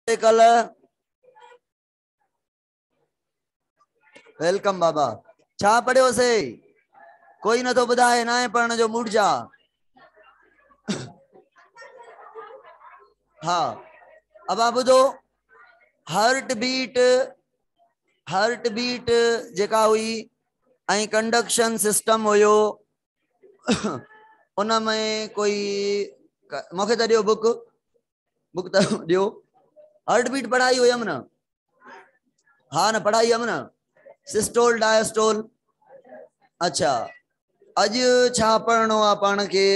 ڪل ويلڪم بابا ڇا پڙھيو سي ڪوئي نٿو ٻڌائي ناهي پڙھڻ جو موڊ جا ها ابا ٻڌو هارٽ بيٽ هارٽ بيٽ جيڪا هئي ۽ ڪنڊڪشن سسٽم هيو ان ۾ ڪوئي مونکي ته ڏيو بوڪ بک ته ڏيو هارٽ بيٽ پڙهائي هيم نه ها نه پڙهائي هيم نه سسٽول ڊائسٽول اچھا اڄ ڇا پڙهڻو آ پاڻ کي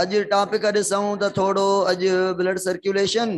اڄ ٽاپڪ ڏسون ته ٿورو اڄ بلڊ سرڪيوليشن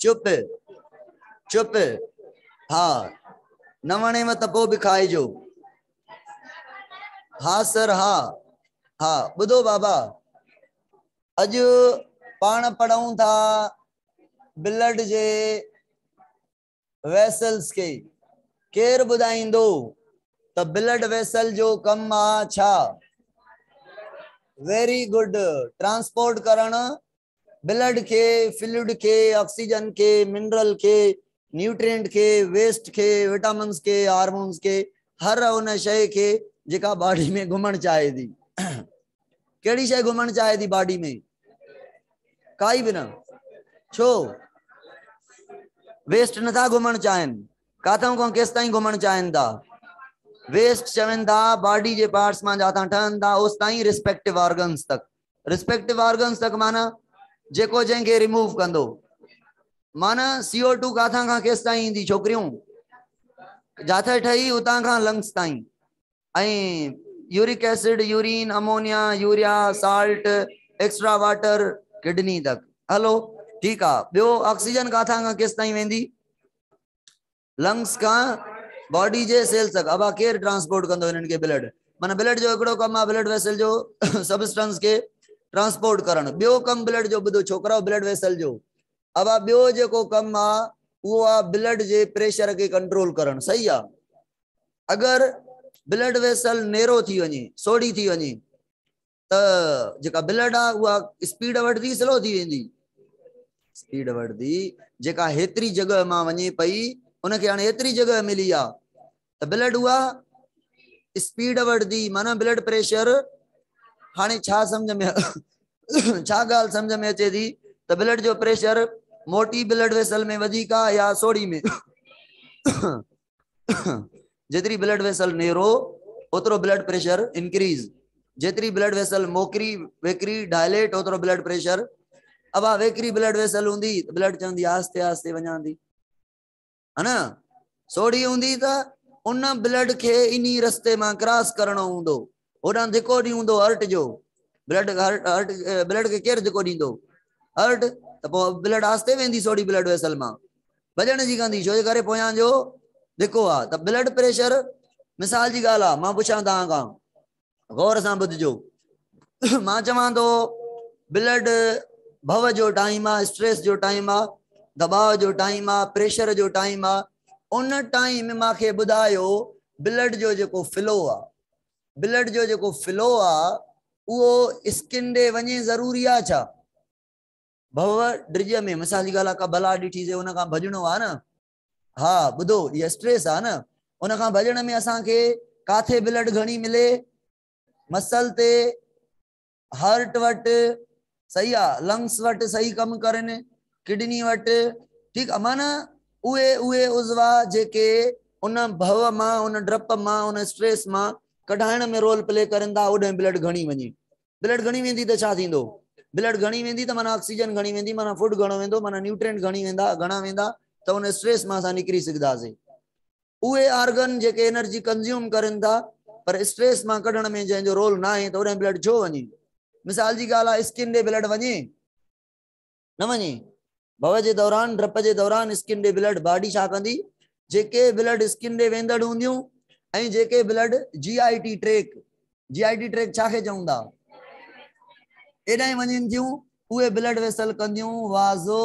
چپ چپ ها نه وڻيو ته پوء به کائجو ها سر ها ها ٻڌو بابا اڄ پاڻ پڙهون ٿا بلڊ جي ويسلز کي ڪير ٻڌائيندو ته بلڊ ويسل جو ڪم آ ڇا؟ ويري گڊ ٽرانسپورٽ ڪرڻ بلڊ کي فلوئڊ کي آڪسيجن کي منرل کي نيوٽرينٽ کي ويسٽ کي وٽامنز کي هارمونز کي هر ان شئي کي جيڪا باڊي ۾ گهمڻ چاهي ٿي ڪهڙي شيء گهمڻ چاهي ٿي باڊي ۾ ڪائي به نه ڇو ويسٽ نٿا گهمڻ چاهين ڪاٿن کان ڪيس تائين گهمڻ چاهين ٿا ويسٽ چون ٿا باڊي جي پارٽس مان جاتان ٺهن ٿا اوس تائين رسپيڪٽو آرگنس تڪ رسپيڪٽو آرگنس تڪ معنی جيڪو جنهن کي ريموو ڪندو معنی سی او ٽو ڪاٿان کان ڪيس تائين ايندي ڇوڪريون جاٿي ٺهي اتان کان لنگس تائين ۽ uric acid, urine, ammonia, urea, salt, extra water, kidney تڪ. هلو ٺيڪ آ ٻيو آڪسيجن ڪاٿان کان ڪيس تائين ويندي؟ لنگس کان باڊي جي سيلز تڪ. ابا ڪير ٽرانسپورٽ ڪندو هنن کي بلڊ؟ معنيٰ بلڊ جو هڪڙو ڪم آ بلڊ ويسل جو سبسٽنس کي ٽرانسپورٽ ڪرڻ. ٻيو ڪم بلڊ جو ٻڌو ڇوڪرؤ بلڊ ويسل جو ابا ٻيو جيڪو ڪم آ اهو آ بلڊ جي پريشر کي ڪنٽرول ڪرڻ صحيح آ. اگر بلڊ ويسل نيرو ٿي وڃي سوڙهي ٿي وڃي ته جيڪا بلڊ آ اها اسپيڊ وٺدي سلو ٿي ويندي اسپيڊ وٺدي جيڪا هيتري جڳهه مان وڃي پئي ان کي هاڻي هيتري جڳهه ملي آ ته بلڊ اها اسپيڊ وٺدي معنی بلڊ پريشر هاڻي ڇا سمجھ ۾ ڇا ڳالهه سمجھ ۾ اچي ٿي ته بلڊ جو پريشر موٽي بلڊ ويسل ۾ وڌيڪ آ يا سوڙهي ۾ جيتري بلڊ ويسل نيرو اوترو بلڊ پريشر انڪريز جيتري بلڊ ويسل موڪري ويڪري ڊائليٽ اوترو بلڊ پريشر ابا ويڪري بلڊ ويسل هوندي بلڊ چوندي آهستي آهستي وڃاندي ها نه سوڙي هوندي ته ان بلڊ کي انهي رستي مان ڪراس ڪرڻو هوندو هوڏانهن ڌڪو ڏيون هوندو هرٽ جو بلڊ هرٽ هرٽ بلڊ کي ڪير ڌڪو ڏيندو هرٽ ته پوء بلڊ آستي ويندي سوڙي بلڊ ويسل مان ڀڄڻ جي ڪندي ڇو جي ڪري پويان جو ڌڪو آ ته بلڊ پريشر مثال جي ڳالهه آ مان پڇان توهان کان غور سان ٻڌجو مان چوان ٿو بلڊ ڀو جو ٽائيم آ اسٽريس جو ٽائيم آ دباء جو ٽائيم آ پريشر جو ٽائيم آ ان ٽائيم ماکي ٻڌايو بلڊ جو جيڪو فلو آ بلڊ جو جيڪو فلو آ اهو اسڪن ڏي وڃي ضروري آ ڇا ڀو ڊج ۾ مثال جي ڳالهه آ ڪا بلا ڏٺي سي ان کان ڀڄڻو آ نه ها ٻڌو هي اسٽريس آ نه ان کان ڀڄڻ ۾ اسان کي ڪاٿي بلڊ گهڻي ملي مسل تي هارٽ وٽ صحيح آ لنگس وٽ صحيح ڪم ڪرن ڪڊني وٽ ٺيڪ آ معنيٰ اهي اهي عضوا جيڪي ان ڀو مان ان ڊپ مان ان اسٽريس مان ڪڍائڻ ۾ رول پلي ڪرن ٿا اوڏهن بلڊ گهڻي وڃي بلڊ گهڻي ويندي ته ڇا ٿيندو بلڊ گهڻي ويندي ته معنيٰ آڪسيجن گهڻي ويندي معنيٰ فوڊ گهڻو ويندو معنيٰ نيوٽرينٽ گهڻي ويندا گهڻا ويندا ته ان اسٽريس مان اسان نڪري سگهنداسين اهي آرگن جيڪي انرجي ڪنزيوم ڪرين ٿا پر اسٽريس مان ڪڍڻ ۾ جنهن جو رول ناهي ته اوڏانهن بلڊ ڇو وڃي؟ مثال جي ڳالهه آهي اسڪن ڏي بلڊ وڃي؟ نه وڃي. ڀؤ جي دوران، ڊرپ جي دوران اسڪن ڏي بلڊ باڊي ڇا ڪندي؟ جيڪي بلڊ اسڪن ڏي ويندڙ هونديون ۽ جيڪي blood G I T tract, G I T tract ڇا کي چون ٿا؟ ايڏانهن وڃين ٿيون اهي بلڊ ويسل ڪنديون وازو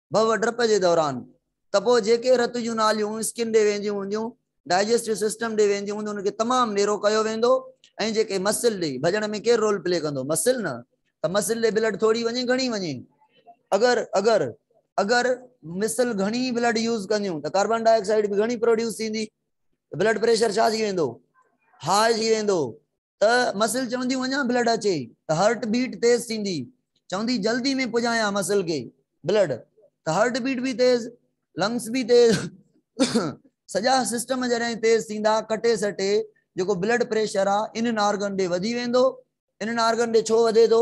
ڀؤ ڊپ جي دوران ته پوء جيڪي رت جون ناليون اسڪن ڏي وينديون هونديون، ڊائجسٽو سسٽم ڏي وينديون هونديون ان کي تمام نيرو ڪيو ويندو ۽ جيڪي مسل ڏي ڀڄڻ ۾ ڪير رول پلي ڪندو مسل نه ته مسل ڏي بلڊ ٿوري وڃي گهڻي وڃي اگر اگر اگر مسل گهڻي بلڊ يوز ڪنديون ته ڪاربان ڊاء آڪسائيڊ به گهڻي پروڊيوس ٿيندي بلڊ پريشر ڇا ٿي ويندو هاء ٿي ويندو ته مسل چونديون اڃا بلڊ اچي ته هرٽ بيٽ تيز ٿيندي چوندي جلدي ۾ پڄايان مسل کي بلڊ ته هرٽ بيٽ به تيز لنگس به تيز سڄا سسٽم جڏهن تيز ٿيندا ڪٽي سٽي جيڪو بلڊ پريشر آ انهن آرگن ڏي وڌي ويندو انهن آرگن ڏي ڇو وڌي ٿو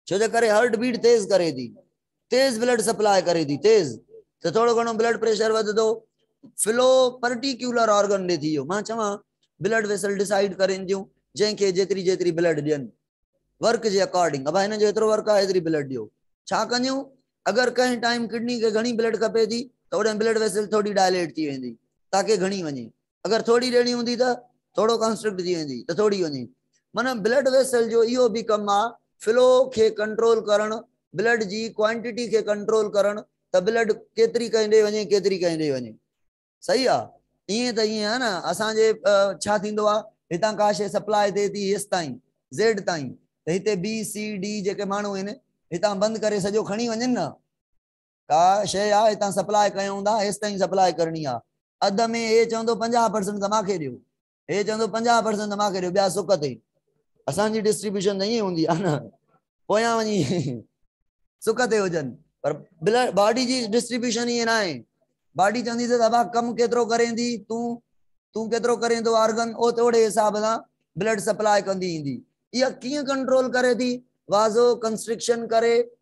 ڇو جي ڪري هارٽ بيٽ تيز ڪري ٿي تيز بلڊ سپلاء ڪري ٿي تيز ته ٿورو گهڻو بلڊ پريشر وڌندو فلو پرٽيڪيولر آرگن ڏي ٿي ويو مان چوان بلڊ ويسل ڊسائيڊ ڪرين ٿيون جنهن کي جيتري جيتري بلڊ ڏين ورڪ جي اڪارڊنگ ابا هن جو هيترو ورڪ آهي هيتري بلڊ ڏيو ڇا ڪنديون اگر ڪنهن ٽائيم ڪڊني کي گهڻي بلڊ کپي ٿي ته اوڏهن بلڊ ويسل ٿوري ڊائليٽ ٿي ويندي تاڪي گهڻي وڃي اگر ٿوري ڏيڻي هوندي ته ٿورو ڪانسٽرڪٽ ٿي ويندي ته ٿوري وڃي معنيٰ بلڊ ويسل جو اهو به ڪم آهي فلو کي ڪنٽرول ڪرڻ بلڊ جي ڪوانٽيٽي کي ڪنٽرول ڪرڻ ته بلڊ ڪيتري ڪنهن ڏي وڃي ڪيتري ڪنهن ڏي وڃي صحيح آهي ائين ته ائين آهي نه اسان جي ڇا ٿيندو آهي هتان ڪا شيء سپلاء ٿئي ٿي هيس تائين زيڊ تائين ته هتي بي سي ڊي جيڪي ماڻهو آهن هتان بند ڪري سڄو کڻي وڃن نه ڪا شيء آ هتان سپلاء ڪيون ٿا هيستائين سپلاء ڪرڻي آ اڌ ۾ هي چوندو پنجاهه پرسنٽ ته ماکي ڏيو هي چوندو پنجاهه پرسنٽ ته ماکي ڏيو ٻيا سڪ اٿئي اسان جي ڊسٽريبيوشن ته ائين هوندي آ نه پويان وڃي سڪ تي هجن پر بلڊ باڊي جي ڊسٽريبيوشن ائين ناهي باڊي چوندي ته ابا ڪم ڪيترو ڪرين ٿي تون تون ڪيترو ڪرين ٿو آرگن او توڙي حساب سان بلڊ سپلاء ڪندي ايندي اها ڪيئن ڪنٽرول ڪري ٿي وازو ڪنسٽرڪشن ڪري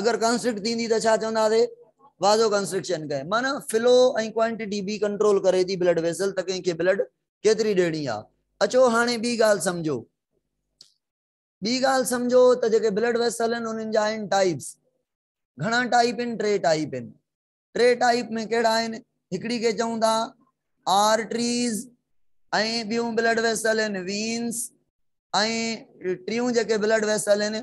اگر ڪنسٽرڪٽ ٿيندي ته ڇا چونداسي وازو ڪنسٽرڪشن ڪئي معنيٰ فلو ۽ ڪوانٽيٽي به ڪنٽرول ڪري ٿي بلڊ ويسل ته ڪنهن کي بلڊ ڪيتري ڏيڻي آهي اچو هاڻي ٻي ڳالهه سمجهو ٻي ڳالهه سمجهو ته جيڪي بلڊ ويسل آهن انهن جا آهن ٽائيپس گهڻا ٽائيپ آهن ٽي ٽائيپ آهن ٽي ٽائيپ ۾ ڪهڙا آهن هڪڙي کي چئون ٿا آرٽريز ۽ ٻيون بلڊ ويسل آهن وينس ۽ ٽيون جيڪي بلڊ ويسل آهن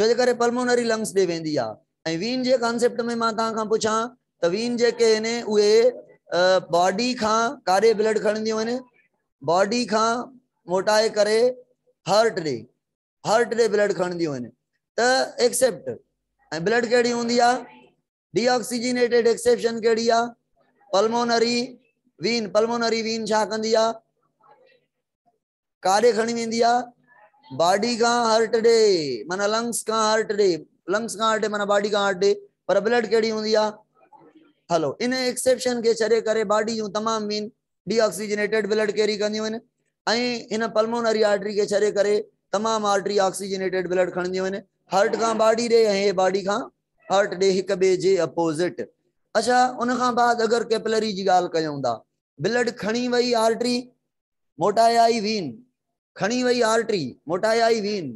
ڇو جي ڪري پلمونري لنگس ڏي ويندي آ ۽ وين جي ڪانسيپٽ ۾ مان توهان کان پڇان ته وين جيڪي هين اهي باڊي کان ڪاڏي بلڊ کڻنديون هين باڊي کان موٽائي ڪري هارٽ ڏي هارٽ ڏي بلڊ کڻنديون هين ته ايڪسيپٽ ۽ بلڊ ڪهڙي هوندي آ ڊي آڪسيجينيٽيڊ ايڪسيپشن ڪهڙي آ پلمونري وين پلمونري وين ڇا ڪندي آ ڪاڏي کڻي ويندي آ باڊي کان هارٽ ڏي معنيٰ لنگس کان هارٽ ڏي لنگس کان هارٽ ڏي معنيٰ باڊي کان هارٽ ڏي پر بلڊ ڪهڙي هوندي آ هلو ان ايڪسيپشن کي ڇڏي ڪري باڊي جون تمام main deoxygenated blood carry ڪنديون آهن ۽ هن پلمونري آرٽري کي ڇڏي ڪري تمام آرٽري آڪسيجنيٽيڊ بلڊ کڻنديون آهن هارٽ کان باڊي ڏي ۽ هي باڊي کان هارٽ ڏي هڪ ٻئي جي اپوزٽ اچھا ان کان بعد اگر ڪيپلري جي ڳالهه ڪيون ٿا بلڊ کڻي وئي آرٽري موٽايائي وين، کڻي وئي آرٽري، موٽايائي وين،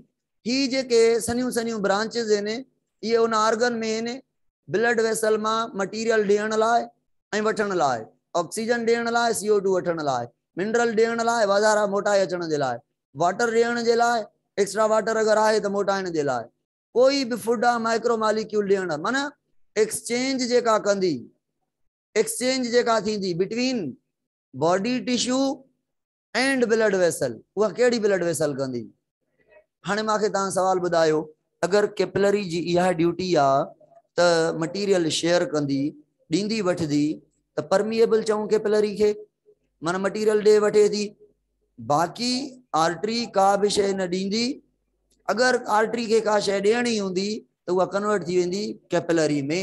هي جيڪي سنهيون سنهيون برانچز هين، اهي ان آرگن ۾ هين، بلڊ ويسل مان مٽيريل ڏيڻ لاء ۽ وٺڻ لاء، آڪسيجن ڏيڻ لاء، سي او ٽو وٺڻ لاء، منرل ڏيڻ لاء، واڌارا موٽائي اچڻ جي لاء، واٽر ڏيڻ جي لاء، ايڪسٽرا واٽر اگر آهي ته موٽائڻ جي لاء، ڪوئي به فوڊ آهي مائڪرو ماليڪيول ڏيڻ، معنيٰ ايڪسچينج جيڪا ڪندي، ايڪسچينج جيڪا ٿيندي between body tissue and blood vessel اها ڪهڙي بلڊ ويسل ڪندي هاڻي ماکي تان سوال ٻڌايو اگر ڪيپلري جي اها ڊيوٽي آ ته مٽيريل شيئر ڪندي ڏيندي وٺدي ته پرميبل چون ڪيپلري کي من مٽيريل ڏي وٺي ٿي باقي آرٽري ڪا به شيء نه ڏيندي اگر آرٽري کي ڪا شيء ڏيڻي هوندي ته اها ڪنورٽ ٿي ويندي ڪيپلري ۾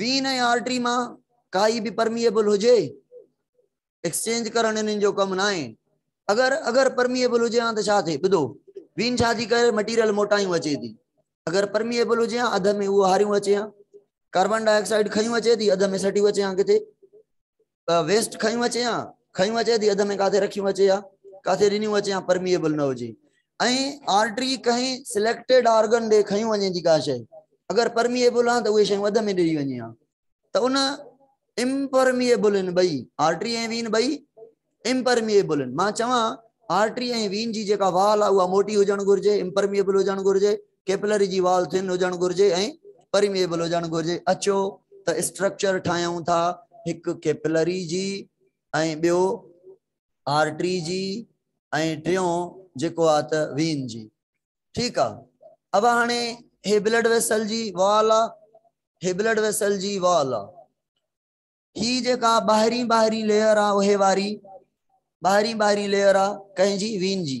وين ۽ آرٽري مان ڪائي به پرميئبل هجي ايڪسچينج ڪرڻ انهن جو ڪم ناهي اگر اگر پرميئبل هجي ها ته ڇا ٿئي ٻڌو وين ڇا ٿي ڪري مٽيريل موٽايون اچي ٿي اگر پرميئبل هجي ها اڌ ۾ اهو هاريون اچي ها ڪاربان ڊاء آڪسائيڊ کيون اچي ٿي اڌ ۾ سٽيون اچي ها ڪٿي ته ويسٽ کنيون اچي يا کنيون اچي ٿي اڌ ۾ ڪاٿي رکيون اچي يا ڪاٿي رنيون اچي يا پرميبل نه هجي ۽ آرٽري ڪنهن سليڪٽيڊ آرگن ڏي کنيون وڃي ٿي ڪا شيء اگر پرميبل آهن ته اهي شيون اڌ ۾ ڏري وڃي ها ته ان امپرميبل ان ٻئي آرٽري ۽ وين ٻئي امپرميبل ان مان چوان آرٽري ۽ وين جي جيڪا وال آهي اها موٽي هجڻ گهرجي امپرميبل هجڻ گهرجي ڪيپلري جي وال ٿن هجڻ گهرجي ۽ پرميئبل هجڻ گهرجي اچو ته اسٽرڪچر ٺاهيون ٿا هڪ ڪيپلري جي ۽ ٻيو آرٽري جي ۽ ٽيون جيڪو آ ته وين جي ٺيڪ آ اب هاڻي هي بلڊ ويسل جي وال آ هي بلڊ ويسل جي وال آ هي جيڪا ٻاهرين ٻاهرين ليئر آ اهي واري ٻاهرين ٻاهرين ليئر آ ڪنهن جي وين جي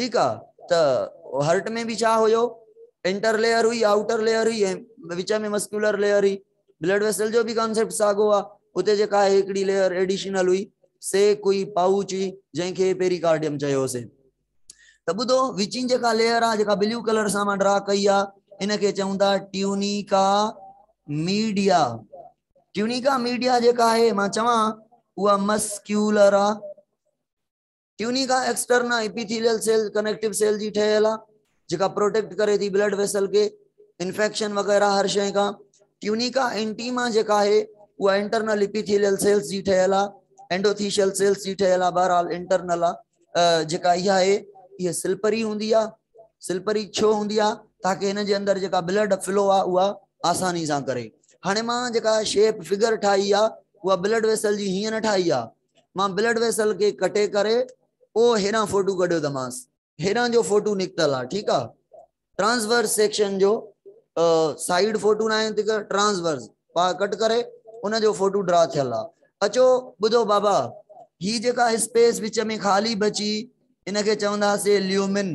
ٺيڪ آ ته هرٽ ۾ به ڇا هيو انٽر ليئر هئي آئوٽر ليئر هئي ۽ وچ ۾ مسڪيولر ليئر هئي بلڊ ويسل جو به ڪانسيپٽ ساڳو آ اتي جيڪا هي هڪڙي ليئر ايڊيشنل هئي سي ڪوئي پاوچ هئي جنهن کي پيريڪارڊيم چيوسي ته ٻڌو وچين جيڪا ليئر آ جيڪا بليو ڪلر سان مان ڊرا ڪئي آ ان کي چون ٿا ٽيونيڪا ميڊيا ٽيونيڪا ميڊيا جيڪا آهي مان چوان اها مسڪيولر آ Tunica externa Epithelial Cell Connective Cell جي ٺهيل آهي جيڪا پروٽيڪٽ ڪري ٿي بلڊ ويسل کي انفيڪشن وغيره هر شيء کان Tunica Intima جيڪا آهي اها انٽرنل ايپيٿيليل سيلز جي ٺهيل آهي اينڊوٿيشل سيلز جي ٺهيل آهي بهرحال انٽرنل آهي جيڪا اها آهي اها سلپري هوندي آهي سلپري ڇو هوندي آهي تاڪي هن جي اندر جيڪا بلڊ فلو آهي اها آساني سان ڪري هاڻي مان جيڪا شيپ فگر ٺاهي آهي اها بلڊ ويسل جي هيئن نه ٺاهي آهي مان بلڊ ويسل کي ڪٽي ڪري پوء هيڏانهن فوٽو ڪڍيو ته مانس. هيڏانهن جو فوٽو نڪتل آ ٺيڪ آ ٽرانسورس سيڪشن جو سائيڊ فوٽو ناهي ته ٽرانسورس پاء ڪٽ ڪري ان جو فوٽو ڊرا ٿيل آ اچو ٻڌو بابا هي جيڪا اسپيس وچ ۾ خالي بچي ان کي چوندا سي ليومن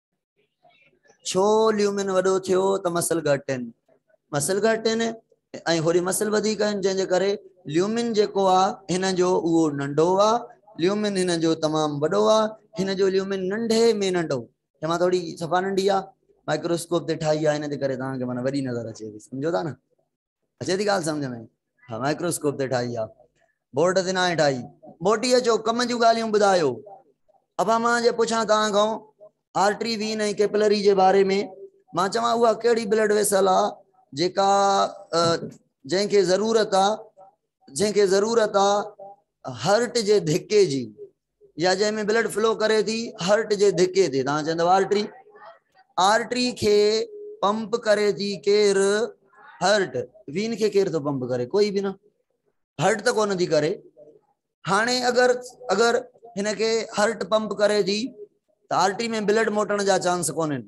ڇو ليومن وڏو ٿيو ته مسل گهٽ آهن مسل گهٽ آهن ۽ هوري مسل وڌيڪ آهن جنهن جي ڪري ليومن جيڪو آ هن جو اهو ننڍو آ ليومن هن جو تمام وڏو آ هن جو ليومن ننڍي ۾ ننڍو جنهن مان ٿوري صفا ننڍي آ مائڪروسڪوپ تي ٺاهي آ هن جي ڪري توهان کي معنی وڏي نظر اچي ٿي سمجهو ٿا نه اچي ٿي ڳالهه سمجهه ۾ ها مائڪروسڪوپ تي ٺاهي آ بورڊ تي ناهي ٺاهي موٽي اچو ڪم جون ڳالهيون ٻڌايو ابا مان جي پڇان توهان کان آرٽري وين ۽ ڪيپلري جي باري ۾ مان چوان اها ڪهڙي بلڊ ويسل آ جيڪا جنهن کي ضرورت آ جنهن کي ضرورت آ هرٽ جي ڌڪي جي يا جنهن ۾ بلڊ فلو ڪري ٿي هرٽ جي ڌڪي تي توهان چوندو آرٽري آرٽري کي پمپ ڪري ٿي ڪير هرٽ وين کي ڪير ٿو پمپ ڪري ڪوئي به نه هرٽ ته ڪونه ٿي ڪري هاڻي اگر اگر هن کي هرٽ پمپ ڪري ٿي ته آرٽري ۾ بلڊ موٽڻ جا چانس ڪونهن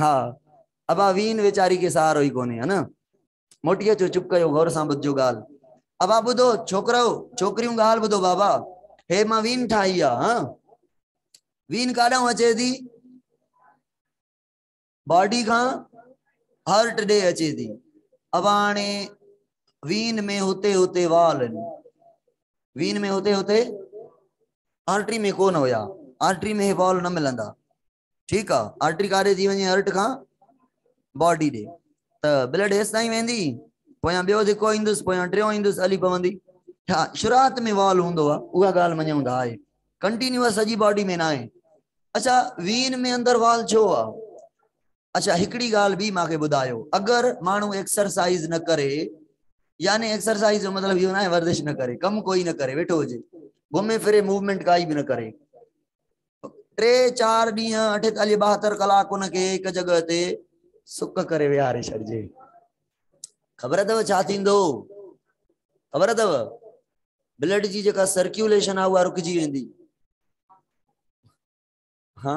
ها ابا وين ويچاري کي سهارو ئي ڪونهي ها نه. موٽي اچو چپ ڪيو غور سان ٻڌجو ڳالهه. ابا ٻڌو ڇوڪرؤ ڇوڪريون ڳالهه ٻڌو بابا هي مان وين ٺاهي آ ها وين ڪاڏانهون اچي ٿي باڊي کان هارٽ ڏي اچي ٿي ابا هاڻي وين ۾ هتي هتي وال آهن وين ۾ هتي هتي آرٽري ۾ ڪون هيا آرٽري ۾ هي وال نه ملندا ٺيڪ آ آرٽري ڪاري ٿي وڃي هرٽ کان باڊي ڏي ته بلڊ هيس تائين ويندي پويان ٻيو ڌڪو ايندس پويان ٽيون ايندس علي پوندي ها شروعات ۾ وال هوندو آ اها ڳالهه مڃون ٿا آهي ڪنٽينيوس سڄي باڊي ۾ ناهي اچھا وين ۾ اندر وال ڇو آ اچھا هڪڙي ڳالهه به ماکي ٻڌايو اگر ماڻهو ايڪسرسائز نه ڪري يعني ايڪسرسائز جو مطلب اهو نه ورزش نه ڪري ڪم ڪوئي نه ڪري ويٺو هجي گهمي ڦري موومينٽ ڪائي به نه ڪري ٽي چار ڏينهن اٺيتاليهه ٻاهتر ڪلاڪ ان کي هڪ جڳهه تي سڪ ڪري ويهاري ڇڏجي خبر اٿو ڇا ٿيندو خبر اٿو بلڊ جي جيڪا سرڪيوليشن آ اها رڪجي ويندي ها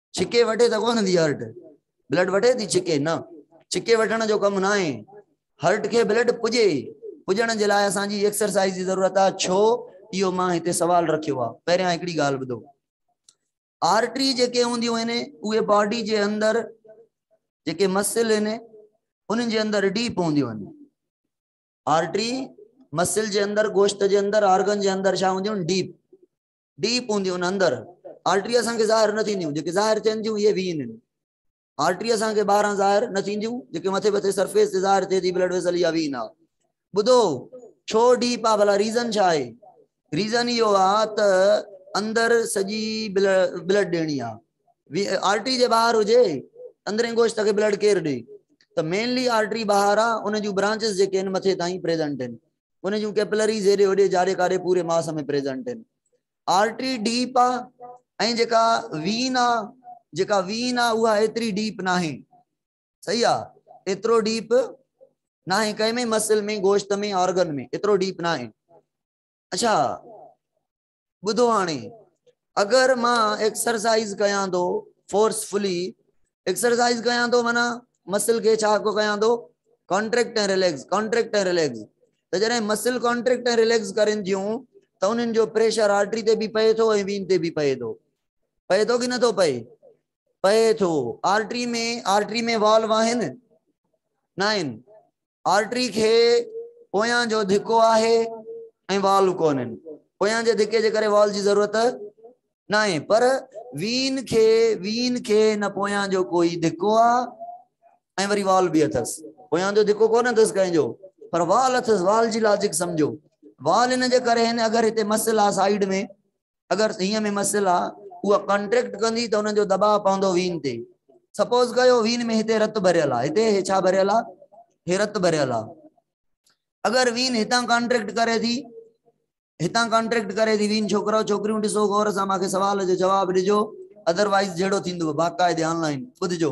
ڇڪي وٺي ته ڪونه ٿي هرٽ بلڊ وٺي ٿي ڇڪي نه ڇڪي وٺڻ جو ڪم نه آهي هرٽ کي بلڊ پڄي پڄڻ جي لاء اسانجي ايڪسرسائز جي ضرورت آهي ڇو اهو مان هتي سوال رکيو آهي پهريان هڪڙي ڳالهه ٻڌو آرٽري جيڪي هونديون آهن اهي باڊي جي اندر جيڪي مسل آهن انهن جي اندر ڊيپ هونديون آهن آرٽري مسل جي اندر گوشت جي اندر آرگن جي اندر ڇا هونديون ڊيپ ڊي پوندي ان اندر آرٽري اسان کي ظاهر نه ٿينديون جيڪي ظاهر ٿين ٿيون اهي وين آهن آرٽري اسان کي ٻاهران ظاهر نه ٿينديون جيڪي مٿي مٿي سرفيس تي ظاهر ٿئي ٿي بلڊ ويسل يا وين آ ٻڌو ڇو ڊيپ آ ڀلا ريزن ڇا آهي ريزن اهو آ ته اندر سڄي بلڊ ڏيڻي آ آرٽري جي ٻاهر هجي اندرين گوشت کي بلڊ ڪير ڏي ته مينلي آرٽري ٻاهر آ ان جون برانچز جيڪي آهن مٿي تائين پريزنٽ آهن ان جون ڪيپلريز هيڏي هوڏي جاڙي ڪاڙي پوري ماس ۾ پريزنٽ آهن آرٽري ڊيپ آ ۽ جيڪا وين آ جيڪا وين آ اها ايتري ڊيپ ناهي صحيح آ ايترو ڊيپ ناهي ڪنهن ۾ مسل ۾ گوشت ۾ آرگن ۾ ايترو ڊيپ ناهي اچھا ٻڌو هاڻي اگر مان ايڪسرسائيز ڪيان ٿو فورس فلي ايڪسرسائيز ڪيان ٿو مانا مسل کي ڇا ڪو ڪيان ٿو ڪانٽريڪٽ ۽ ريليڪس ڪانٽريڪٽ ۽ ريليڪس ته جڏهن مسل ڪانٽريڪٽ ۽ ريليڪس ڪرن ٿيون ته انهن جو پريشر آرٽري تي به پئي ٿو ۽ وين تي به پئي ٿو پئي ٿو ڪي نٿو پئي پئي ٿو آرٽري ۾ آرٽري ۾ والو آهن نه آهن آرٽري کي پويان جو ڌڪو آهي ۽ والو ڪونهن. پويان جي ڌڪي جي ڪري وال جي ضرورت ناهي پر وين کي وين کي نه پويان جو ڪوئي ڌڪو آ ۽ وري وال به اٿس. پويان جو ڌڪو ڪونه اٿس ڪنهن جو پر وال اٿس وال جي لاجڪ سمجهو وال ان جي ڪري هن اگر هتي مسل آ سائيڊ ۾ اگر سيء ۾ مسئل آ اها ڪانٽريڪٽ ڪندي ته انهن جو دٻاء پوندو وين تي سپوز ڪيو وين ۾ هتي رت ڀريل آ هتي هي ڇا ڀريل آ هي رت ڀريل آ اگر وين هتان ڪانٽريڪٽ ڪري ٿي هتان ڪانٽريڪٽ ڪري ٿي وين ڇوڪرو ڇوڪريون ڏسو غور سان ماکي سوال جو جواب ڏجو ادروائز جهڙو ٿيندو باقاعدي آنلائن ٻڌجو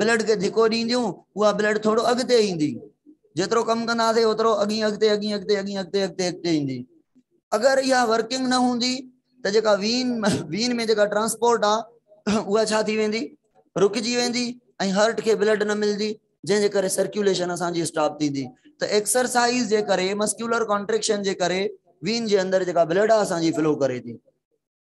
بلڊ کي ڌڪو ڏينديون اها بلڊ ٿورو اڳتي ايندي جيترو ڪم ڪنداسي اوترو اڳين اڳتي اڳين اڳتي اڳين اڳتي اڳتي اڳتي ايندي اگر اها ورڪنگ نه هوندي ته جيڪا وين وين ۾ جيڪا ٽرانسپورٽ آ اها ڇا ٿي ويندي رڪجي ويندي ۽ هارٽ کي بلڊ نه ملدي جنهن جي ڪري سرڪيوليشن اسان جي اسٽاپ ٿيندي ته ايڪسرسائز جي ڪري مسڪيولر ڪانٽريڪشن جي ڪري وين جي اندر جيڪا بلڊ آ اسان جي فلو ڪري ٿي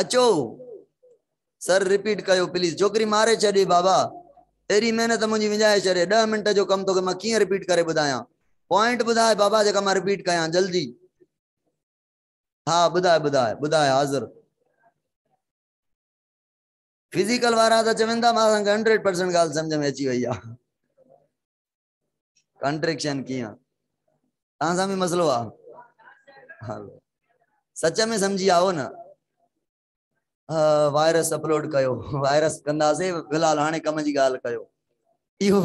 اچو سر رپيٽ ڪيو پليز جوڪري ماري ڇڏي بابا ايري محنت منجي وڃائي ڇڏي 10 منٽ جو ڪم توکي مان ڪيئن رپيٽ ڪري ٻڌايان پوائنٽ ٻڌاء بابا جيڪا مان رپيٽ ڪيان جلدي ها ٻڌاء ٻڌاء ٻڌاء حاضر فزيڪل وارا ته چون ٿا مان اسان کي 100% ڳالهه سمجھ ۾ اچي وئي آ ڪنٽريڪشن ڪيئن تان سان به مسئلو آ سچ ۾ سمجھي آئو نه وائرس اپلوڊ ڪيو وائرس ڪنداسي في الحال هاڻي ڪم جي ڳالهه ڪيو اهو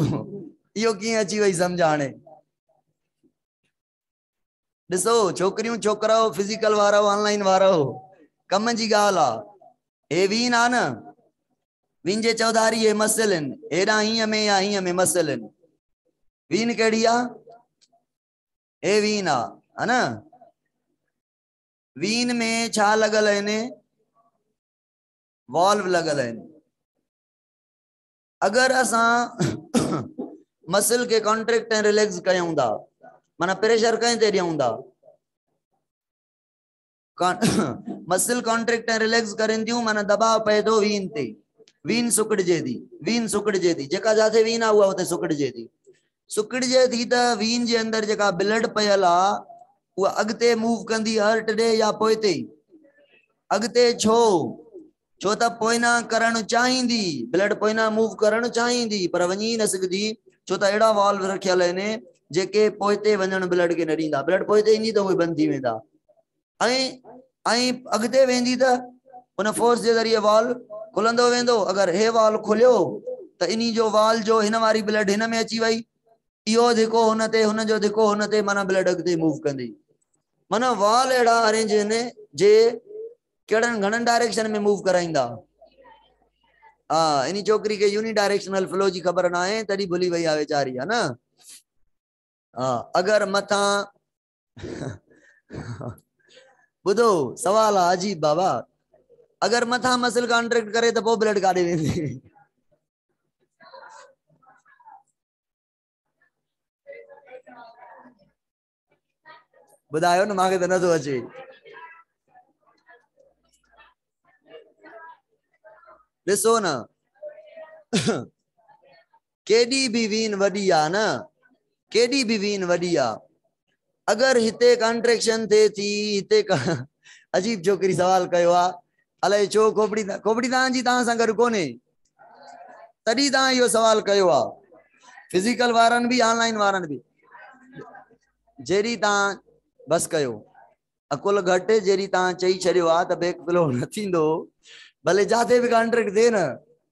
اهو ڪيئن اچي وئي سمجھ هاڻي ڏسو ڇوڪريون ڇوڪراو فزيڪل وارو آن لائن وارو ڪم جي ڳالهه آ هي وين آ نه وين جي چوڌاري هي مسئلن هيڏا هيئن ۾ يا هيئن ۾ مسئلن وين ڪهڙي آ هي وين آ ها نه وين ۾ ڇا لڳل آهن والو لڳل آهن اگر اسان مسل کي ڪانٽريڪٽ ۽ ريليڪس ڪيون ٿا معنيٰ پريشر ڪنهن تي ڏيون ٿا مسل ڪانٽريڪٽ ۽ ريليڪس ڪرين ٿيون معنيٰ دباء پئي ٿو وين تي وين سڪڙجي ٿي وين سڪڙجي ٿي جيڪا جاٿي وين آ اها اتي سڪڙجي ٿي سڪڙجي ٿي ته وين جي اندر جيڪا بلڊ پيل آ اها اڳتي موو ڪندي هرٽ ڏي يا پوئتي اڳتي ڇو ڇو ته پوئنا ڪرڻ چاهيندي بلڊ پوئنا موو ڪرڻ چاهيندي پر وڃي نه سگهندي ڇو ته اهڙا والو رکيل آهن جيڪي پوئتي وڃڻ بلڊ کي نه ڏيندا بلڊ پوئتي ايندي ته اهي بند ٿي ويندا ائين ائين اڳتي ويندي ته ان فورس جي ذريعي وال کلندو ويندو. اگر هي وال کليو ته انهي جو وال جو هن واري بلڊ هن ۾ اچي وئي. اهو ڌڪو هن تي هن جو ڌڪو هن تي معنيٰ بلڊ اڳتي موو ڪندي. معنيٰ وال اهڙا ارينج هن جي ڪهڙن گهڻن ڊائريڪشن ۾ موو ڪرائيندا. ها انهي ڇوڪري کي يوني ڊائريڪشنل فلو جي خبر ناهي تڏهن ڀلي وئي آهي ويچاري ها نه. ها اگر مٿان ٻڌو سوال آ عجيب بابا اگر مٿان مسل ڪانٽريڪٽ ڪري ته پو بلڊ ڪاڏي ويندي ٻڌايو نه مانکي ته نٿو اچي ڏسو نه ڪيڏي به وين وڏي آ نه ڪيڏي به وين وڏي آ اگر هتي ڪانٽريڪشن ٿئي ٿي هتي ڪا عجيب ڇوڪري سوال ڪيو آ الائي ڇو کوپڙي کوپڙي تان جي تان سان گڏ ڪونهي تڏي تان اهو سوال ڪيو آ فزيڪل وارن به آن لائن وارن به جيري تان بس ڪيو اڪل گھٽ جيري تان چئي ڇڏيو آ ته بيڪ فلو نه ٿيندو ڀلي جاٿي به ڪانٽريڪٽ ٿئي نه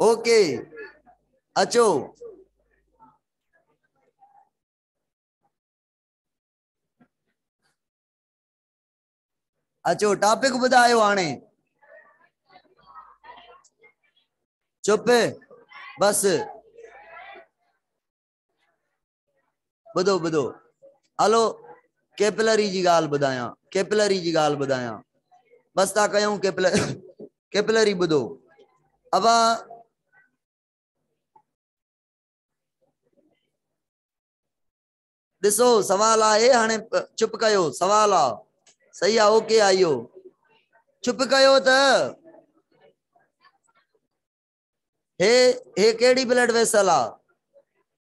اوڪي اچو اچو ٽاپڪ ٻڌايو هاڻي چپ بس ٻڌو ٻڌو هلو ڪيپلري جي ڳالهه ٻڌايان ڪيپلري جي ڳالهه ٻڌايان بس تا ڪيون ڪيپلر ڪيپلري ٻڌو ابا ڏسو سوال آهي هاڻي چپ ڪيو سوال آ صحيح آ اوڪي آ اهو چپ ڪيو ته هي هي ڪهڙي بلڊ ويسل آ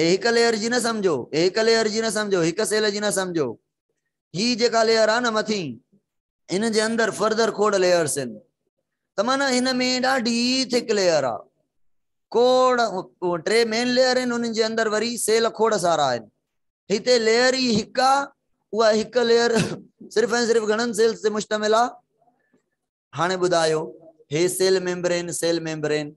هي هڪ ليئر جي نه سمجهو هي هڪ ليئر جي نه سمجهو هڪ سيل جي نه سمجهو هي جيڪا ليئر آ نه مٿين هن جي اندر فردر کوڙ ليئرس آهن ته معنی هن ۾ ڏاڍي ٿڪ ليئر آ کوڙ ٽي مين ليئر آهن انهن جي اندر وري سيل کوڙ سارا آهن هتي ليئر ئي هڪ آ اها هڪ ليئر صرف ۽ صرف گهڻن سيلز تي مشتمل آ هاڻي ٻڌايو هي سيل ميمبرين سيل ميمبرين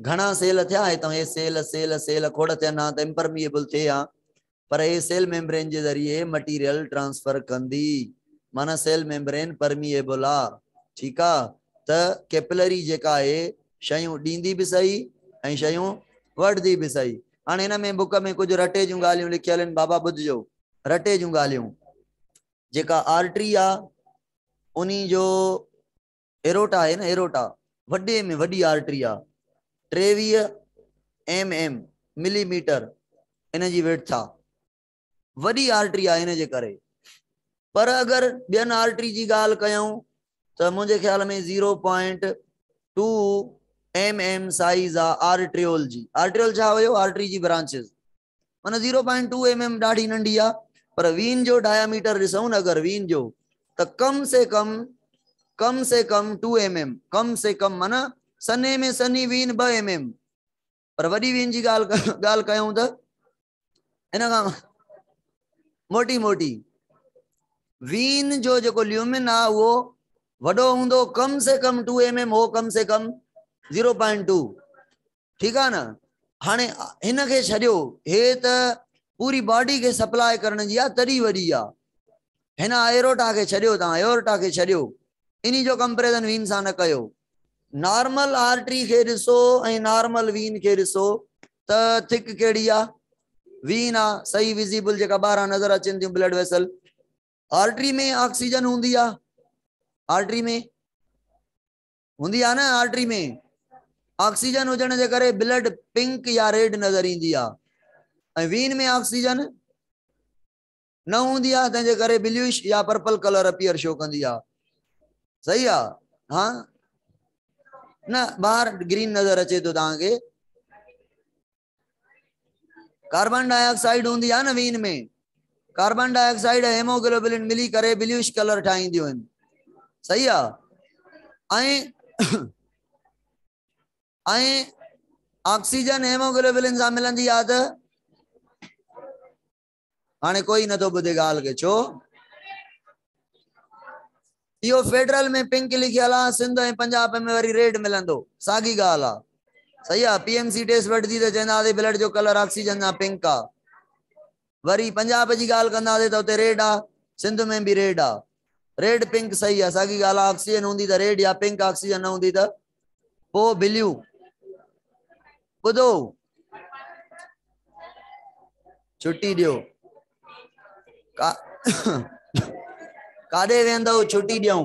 گهڻا سيل ٿيا هي تون هي سيل سيل سيل کوڙ ٿين ها ته امپرميئبل ٿئي ها پر هي سيل ميمبرين جي ذريعي مٽيريل ٽرانسفر ڪندي معنيٰ سيل ميمبرين پرميئبل آ ٺيڪ آ ته ڪيپلري جيڪا آهي شيون ڏيندي به سهي ۽ شيون وٺدي به سهي هاڻي هن ۾ بڪ ۾ ڪجهه رٽي جون ڳالهيون لکيل هن بابا ٻڌجو رٽي جون ڳالهيون جيڪا آرٽري آ انهي جو ايروٽا آهي نه ايروٽا وڏي ۾ وڏي آرٽري آ ٽيويهه ايم ايم ملي ميٽر ان جي ويڊٿ آ وڏي آرٽري آ ان جي ڪري پر اگر ٻين آرٽري جي ڳالهه ڪيون ته منهنجي خيال ۾ zero point two M M size آ آرٽريول جي آرٽريول ڇا هيو آرٽري جي برانچز معنيٰ zero point two M M ڏاڍي ننڍي آ پر وين جو ڊائميٽر ڏسون نه اگر وين جو ته ڪم سي ڪم ڪم سي ڪم ٽو ايم ايم ڪم سي ڪم معنيٰ سنهي ۾ سنهي وين ٻه ايم ايم پر وڏي وين جي ڳالهه ڳالهه ڪيون ته ان کان موٽي موٽي وين جو جيڪو ليومن آ اهو وڏو هوندو ڪم سي ڪم ٽو ايم ايم هو ڪم سي ڪم زيرو پوائنٽ ٽو ٺيڪ آ نه هاڻي هن کي ڇڏيو هي ته پوري باڊي کي سپلاء ڪرڻ جي آ تڏي وڏي آ هن ايروٽا کي ڇڏيو تان ايورٽا کي ڇڏيو اني جو ڪمپريزن وين سان نه ڪيو نارمل آرٽري کي ڏسو ۽ نارمل وين کي ڏسو ته ٿڪ ڪهڙي آ وين آ صحيح ويزيبل جيڪا ٻاهران نظر اچن ٿيون بلڊ ويسل آرٽري ۾ آڪسيجن هوندي آ آرٽري ۾ هوندي آهي نه آرٽري ۾ آڪسيجن هجڻ جي ڪري بلڊ پنڪ يا ريڊ نظر ايندي آهي ۽ وين ۾ آڪسيجن نه هوندي آهي تنهن جي ڪري بلوش يا پرپل ڪلر اپيئر شو ڪندي آهي صحيح آهي ها نه ٻاهر گرين نظر اچي ٿو توهان کي ڪاربان ڊاء آڪسائيڊ هوندي آهي نه vein ۾ carbon dioxide ۽ haemoglobin ملي ڪري بليوش ڪلر ٺاهينديون آهن صحيح آهي ۽ آڪسيجن هيموگلوبلن سان ملندي آهي ته هاڻي ڪوئي نه ٿو ٻڌي ڳالهه کي ڇو اهو فيڊرل ۾ پنڪ لکي هلا سنڌ ۽ پنجاب ۾ وري ريڊ ملندو ساڳي ڳالهه آ صحيح آ پي ايم سي ٽيسٽ وٺندي ته چونداسي بلڊ جو ڪلر آڪسيجن سان پنڪ آ وري پنجاب جي ڳالهه ڪنداسي ته اتي ريڊ آ سنڌ ۾ به ريڊ آ ريڊ پنڪ صحيح آ ساڳي ڳالهه آ آڪسيجن هوندي ته ريڊ يا پنڪ آڪسيجن نه هوندي ته او ٻليون ٻڌو ڇٽي ڏيو ڪاڏي ويندو ڇٽي ڏيون